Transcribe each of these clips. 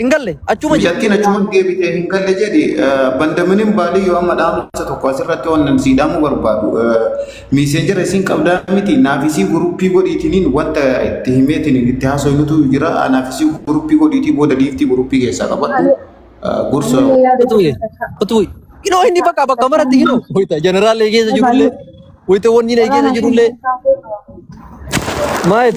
Hin galle achuma jira. Mucattiin achuman deebitee hin galle jedhi bandaminin baalii yoo amma dhaamsa tokko asirratti waan sii dhaamuu barbaadu miiseenjera isiin qabdaa miti naafisii guruppii godhiitiniin wanta itti himeetiniin itti haasoynutu jira naafisii guruppii godhiitii booda giiftii guruppii keessaa qabadhu gorsa Utuu ye. Utuu ye. Inoo inni bakka bakka maratti inoo. Wayita jeneraalee keessa jirullee. Wayita wanni na keessa jirullee. Maayet.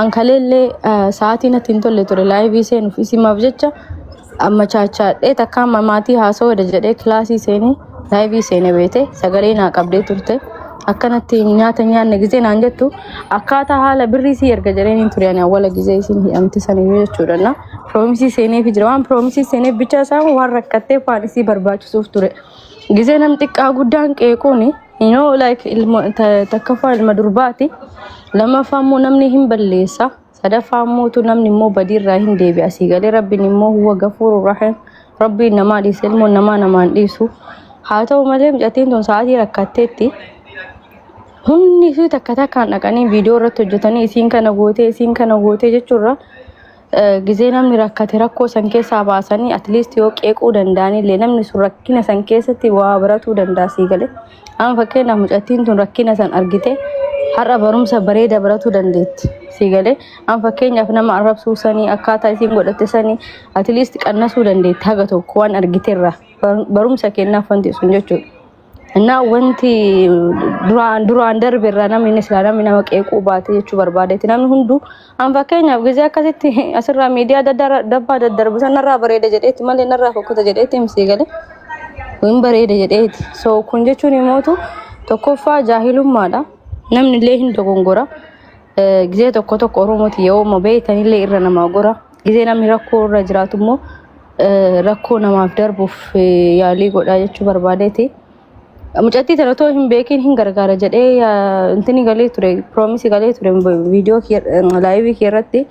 An kaleellee sa'aatii natti hin tolle ture laayivii seenuuf isimaaf jecha amma chaachaadhee takka amma maatii haasawada jedhee kilaasii seenee laayivii seene beete sagalee naa qabdee turte. Akkanatti nyaata nyaanne gizee naan jettu akkaataa haala birrii sii erga jedheen hin ture ani awwala gizee isin hidhamte saniyyuu jechuudha. Na piroomisii seeneefi jira waan piroomisii seeneef bicha isaa waan rakkatteef waan isii barbaachisuuf ture. Gisee nam xiqqaa guddaan qeequun you know like ilma ta- takkaffaa ilma durbaati lammaffaa immoo namni hin balleessa sadaffaa immoo tu namni immoo badiirraa hin deebi'a asii galee rabbiin immoo huwa gafuuru rahim rabbiin namaa dhiise ilmoon namaa namaan dhiisu haa ta'u malee mucattiin tun sa'aatii rakkatteetti hundi isii takka takkaan dhaqanii viidiyoo irratti hojjetanii isiin kana gootee isiin kana gootee jechuurra gizee namni rakkate rakkoo san keessaa baasanii at least yoo qeequu danda'an illee namni sun rakkina san keessatti waa baratuu danda'a sii galee. Amma fakkeenyaaf mucattiin tun rakkina san argite har'a barumsa bareeda baratuu dandeetti sii galee. Amma fakkeenyaaf nama arrabsuu sanii akkaataa isiin godhatte sanii at least qannasuu dandeetti haga tokko waan argiterraa barumsa kennaaf wanti sun jechuudha. Innaa wanti duraan duraan darbe irraa namni inni silaa namni nama qeequu baate jechuu barbaadeeti. Namni hunduu an fakkeenyaaf gizee akkasitti asirraa miidiyaa adda addaa irra- dabbaa daddarbu san narraa bareeda jedheeti malee narraa fokkota jedheeti misii galee hin bareeda jedheeti. So kun jechuun imootu tokkoffaa jaahilummaadha. Namni illee hin dogongora. Eh, Gizee tokko tokko Oromooti yoo ma beektan illee irra namaa gora. Gizee namni rakkoo irra jiraatu immoo eh, rakkoo namaaf darbuuf eh, yaalii godhaa jechuu barbaadeeti. Mucattii tana otoo hin beekin hin gargaara jedhee yaa- intini galee ture piroomisii galee ture viidiyoo kee- eh, laayivii kee irratti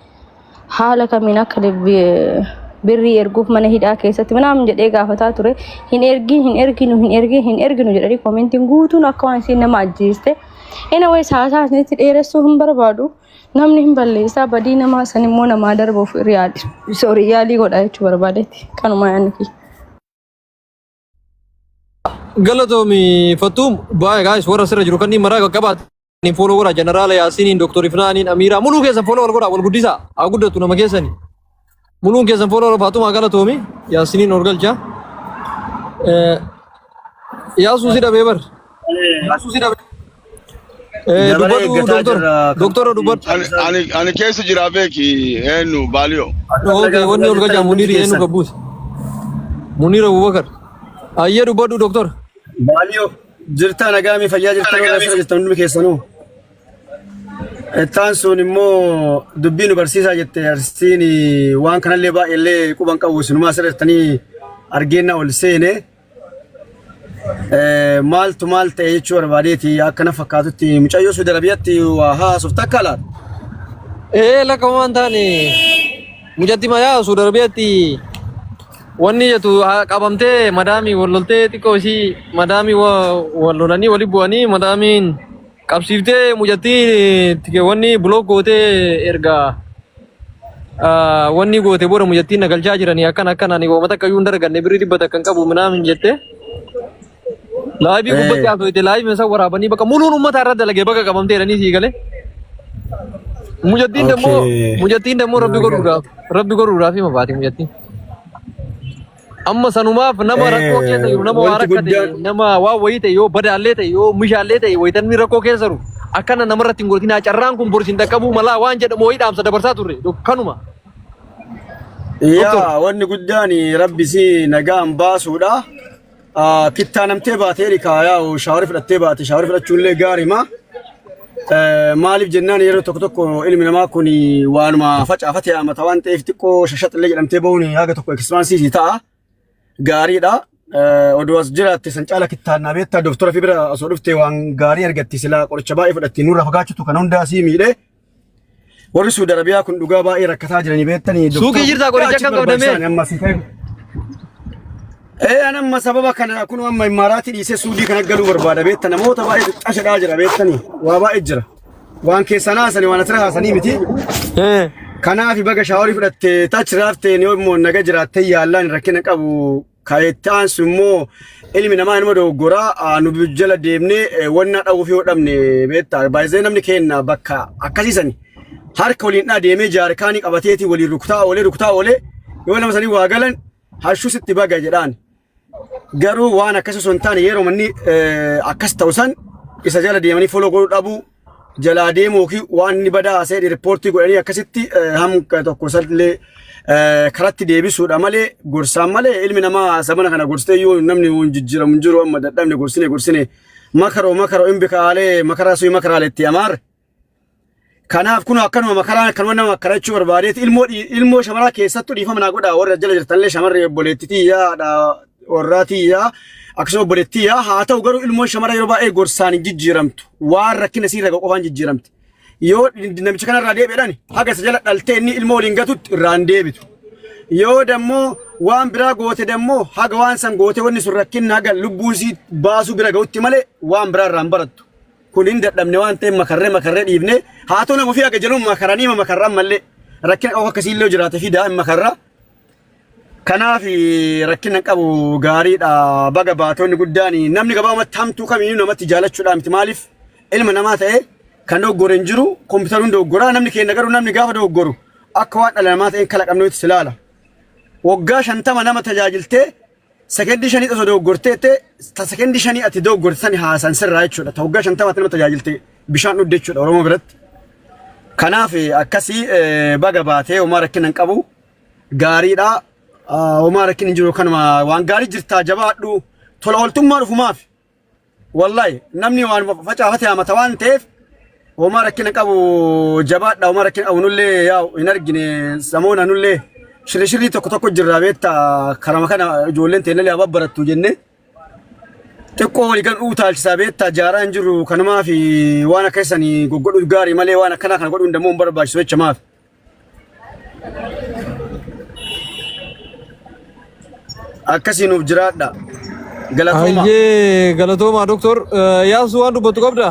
haala kamiin akka lebbi- eh, birrii erguuf mana hidhaa keessatti manaam jedhee gaafataa ture hin ergin hin erginu hin ergin hin erginu jedhanii koomentiin guutuun akka waan isiin nama ajjeeste. Anyways haasaa isinitti dheeressuu hin barbaadu. Namni hin balleessaa badii namaa san immoo namaa darbuuf riyaali. Sorry yaalii godha jechuu barbaadetti. Kanumaa yaanni kiyya. Galatoomi Fattuum baay'ee gaayis warra sirra jiru kanneen maraa qaqqabaate. Ni fooloo godha jeneraala Yaasiiniin, Dooktor Ifnaaniin, Amiiraa muluu keessa fooloo wal godha wal guddisaa haa guddatu nama keessani. Muluun keessan fooloo Faaxumaa galatoomi. Yaasiniin orgalcha. Yaasuu si dhabee bar. Yaasuu si dhabee. Dabaree Dubbadhu eeggataa doktora. jirra. Doktora dubbadhu. Ani, ani, ani keessa jira beeki eenyu baaliyo. Okay, wanni ol gajaa Muniir eenyu qabbuuti. Muniir Abubakar. Ayyee dubbadhu doktora. Baaliyo jirtaa nagaami fayyaa jirtaa warra asirra jirtan hundi keessanuu. Ittaan sun immoo dubbii nu barsiisaa jette arsiin waan kanallee baay'eellee quban qabu sinumaa sirreettanii argeennaa ol seene maaltu maal ta'e jechuu barbaadeeti akkana fakkaatutti mucayyoo Suudi Arabiyaatti waa haasuf takka laata? Ee lakka waan taane mucatti mayaa Suudi Arabiyaatti wanni jettu qabamtee madaamii wal loltee xiqqoo ishii madaamii wal lolanii wali bu'anii madaamiin. Qabsiiftee mucattii tikeewwanni bulook gootee erga ah, wanni goote booda mucattiin na galchaa jiranii akkana akkana ani uummata akka iyyuu hin darganne birrii dhibba takka hin qabu minaamin jette. Laayivii Eh. gubbatti haasofte laayivii isaa waraabanii bakka muluun uummata irra dalagee bakka qabamtee jedhanii sii galee. Mucattiin dammoo Okay. mucattiin dammoo rabbi godhuudhaaf rabbi godhuudhaaf hima baate mucattiin. Amma sanumaaf nama rakkoo keessa jiru, nama waa rakkate, nama waa wayii ta'e, yoo badaallee ta'e, yoo mishaallee ta'e, wayitanni rakkoo keessa jiru. Akkana namarratti hin godhatinaa carraan kun borsi hin dhaqqabuu malaa waan jedhamu wayii dhaamsa dabarsaa turre. Dok- Kanuma. Doktor. Yaa wanni guddaan rabbi si nagaan baasuudha. Ah, Kittaa namtee baatee rikaa yaa shaawari fudhattee baate shaawari fudhachuullee gaariima. Maaliif jennaan yeroo tokko tokko ilmi namaa kun waanuma facaafate haamata waan ta'eef xiqqoo shashaxillee jedhamtee bahuun haga tokko ekispaansiisii ta'a. Gaariidha. Oduu as jiraatte san caala kittaannaa beektaa dooftora fi bira osoo dhufte waan gaarii argatti silaa qoricha baay'ee fudhatti nurra fagaachutu kan hundaa sii miidhee. Warri Suudi Arabiyaa kun dhugaa baay'ee rakkataa jiranii beektanii. Suuqii jirtaa qoricha akkam qabdamee? Amma si ta'e. Ee an amma sababa kana kun amma immaaraatii dhiisee Suudii kana galuu barbaada beekta namoota baay'ee xiqqashadhaa jira beektanii waa baay'ee jira. Waan keessan haasanii waan asirra haasanii miti. Kanaaf baga shaaworii fudhattee taachiraafteen yoo immoo naga jiraattee yaallaan rakkina qabu Kan itti aansu immoo ilmi namaa nama dogoggoraa nu jala deemnee wannaa dhahuuf yoo dhabne beektaa baay'ee namni keenna bakka akkasiisan harka waliin dhaa deemee jaarkaanii qabateeti waliin rukutaa oolee rukutaa oolee yoo nama sanii waa galan hashuu sitti baga jedhaan garuu waan akkasii osoo hin taane yeroo manni akkas ta'u san isa jala deemanii foloo godhuu dhabuu jalaa deemu yookiin waan inni badaa seedhi riippoortii godhanii akkasitti hamka tokko sallee karatti deebisuudha malee gorsaan malee ilmi namaa sabana kana gorsitee yoo namni hin jijjiiramu hin jiru amma dadhabne gorsine gorsine makaroo makaroo hin bikaalee makaraa suyi makaraalee itti amaar. Kanaaf kun akkanuma makaraan akkanuma nama akkarachuu barbaadeeti ilmoo ilmoo shamaraa keessattuu dhiifama naa godhaa warra jala jirtanillee shamarree obboleettitii yaadha warraa tiyyaa akkasuma obboleettii tiyyaa haa ta'u garuu ilmoon shamara yeroo baay'ee gorsaan hin jijjiiramtu waan rakkina siirra gahu qofaan jijjiiramti. Yoo namicha kanarraa deebi'edhaan haga isa jala dhaltee inni ilmoo waliin gatutti irraa hin deebitu. Yoo dammoo waan biraa goote dammoo haga waan san goote wanni sun rakkinna haga lubbuun sii baasuu bira gahutti malee waan biraa irraa hin barattu. Kun hin dadhabne waan ta'eef makarree makarree dhiifne haa ta'u nama ofii haga jaluun makaranii makarraan malee rakkina qabu akkasiillee jiraate fidaa hin makarraa. Kanaaf rakkina qabu gaariidha baga baatonni guddaan namni gabaabumatti hamtuu kamiyyuu namatti jaalachuudhaa miti maaliif ilma namaa ta'e kan dogoggore hin jiru kompiitaruun dogoggoraa namni keenya garuu namni gaafa dogoggoru akka waan dhala namaa ta'een kalaqamneetti si ilaala. Waggaa shantama nama tajaajiltee sekendii shanii osoo dogoggortee ta'e ta sekendii shanii ati dogoggorte sani haasan sirraa jechuudha ta waggaa shantama ati nama tajaajiltee bishaan dhugde jechuudha Oromoo biratti. Kanaaf akkasii baga baatee homaa rakkina hin qabu. gaariidha. Homaa rakkin hin jiru kanuma waan gaarii jirtaa jabaadhu tola ooltummaa dhufumaaf wallahi namni waan facaafate haamata waan ta'eef homaa rakkina qabu jabaadha homaa rakkina qabu nullee yaa hin argine samoona nullee shirri shirrii tokko tokko jirraa beetta karama kana ijoolleen teenyallee haa babbarattu jennee xiqqoo walii kan utaalchisaa beetta jaaraa hin jiru kanumaaf waan akka isanii goggodhu gaarii malee waan akkanaa kana godhuun dammoo hin barbaachisu jecha maaf Akkasii nuuf jiraadha. Galatooma. Ayyee galatoomaa doktor yaabsu waan dubbattu qabda.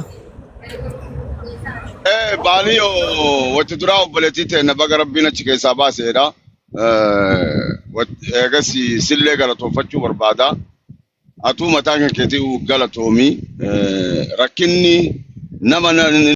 Eh, baanii oo, watti duraa obboleettii ta'e na baga rabbiin achi keessaa baaseedha. Eh, wat- Eegas sillee galatoonfachuu barbaada. Atuu mataa kan keetii galatoomii. Eh, Rakkinni nama na-